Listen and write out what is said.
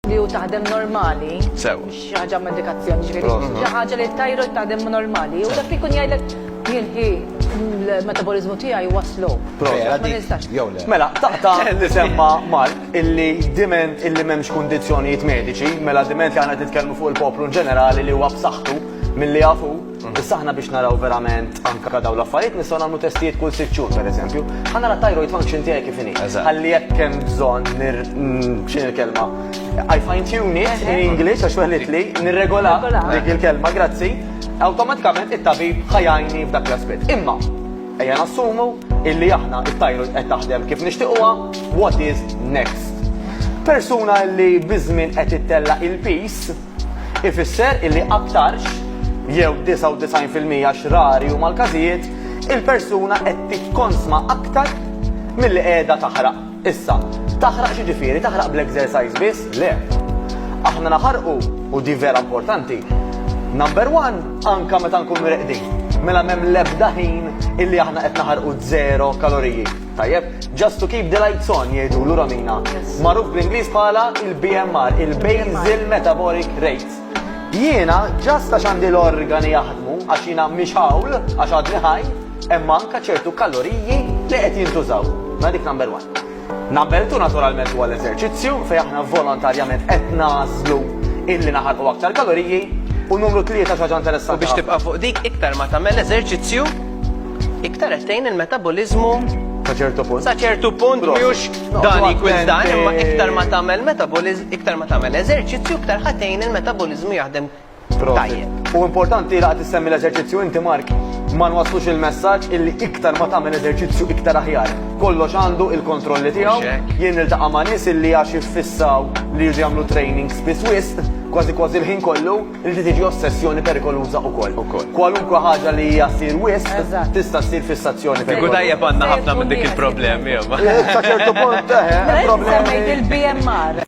li hu taħdem normali. Sew. Xi ħaġa medikazzjoni ġifieri. Xi ħaġa li tajru taħdem normali. U dak ikun jgħidlek jien il-metabolizmu tiegħi waslu. Mela, taqta li semma Mark illi diment illi m'hemmx kundizzjonijiet mediċi, mela diment li għandna titkellmu fuq il-poplu ġenerali li huwa b'saħħtu milli jafu Issa aħna biex naraw verament anke dawn l-affarijiet nistgħu nagħmlu testijiet kull sitt xhur pereżempju. Ħa nara thyroid function tiegħi kif inhi. Ħalli jekk hemm bżonn nir x'in il-kelma. I fine tune it in English għax weħlet li nirregola dik il-kelma, grazzi. Awtomatikament it-tabib ħajajni f'dak l-aspett. Imma ejja nassumu illi aħna it-thyroid qed taħdem kif nixtiequha, what is next? Persuna li biżmien qed ittella il-peace ifisser illi aktarx, jew 99 fil-mija għax rari huma l-każijiet, il-persuna qed tikkonsma aktar milli qiegħda taħraq. Issa, taħraq x'jiġifieri? Taħraq bl-exercise biss? Le. Aħna naħarqu, u di vera importanti, number one, anke meta nkunu reqdin. Mela m'hemm l-ebda ħin illi aħna qed naħarqu żero kaloriji. Tajjeb, just to keep the lights on, jgħidulu Romina. Magħruf bl-Ingliż bħala il-BMR, il-Basal Metabolic Rate. Jiena ġast għax għandi l-organi jaħdmu għax jiena mhix hawl għax għadni ħaj, hemm anke ċertu kaloriji li qed jintużaw. Ma dik number one. Number two naturalment huwa l-eżerċizzju fejn aħna volontarjament qed nażlu illi naħarqu aktar kaloriji u numru tlieta xi ħaġa interessanti. Biex tibqa' fuq dik iktar ma tagħmel eżerċizzju Iktar qed tgħin il-metaboliżmu Sa ċertu punt. Sa ċertu punt mhux dan jkun dan, imma iktar ma tagħmel metaboliz, iktar ma tagħmel eżerċizzju, iktar ħatejn il-metabolizmu jaħdem tajjeb. U importanti li għad semmi l-eżerċizzju inti Mark, ma nwaslux il-messaġġ illi iktar ma tagħmel eżerċizzju iktar aħjar. Kollox għandu il-kontrolli tiegħu, jien niltaqa' ma' nies illi għax iffissaw li jridu jagħmlu training spiss wisq, kważi kważi l-ħin kollu, Inti tiġi ossessjoni perikoluża ukoll. Kwalunkwe ħaġa li hija ssir wisq tista' ssir fissazzjoni perikoluża. Kieku tajjeb għandna ħafna minn dik il-problemi, imma. Sa ċertu punt, eħe, hemm problemi. Semmejt il-BMR.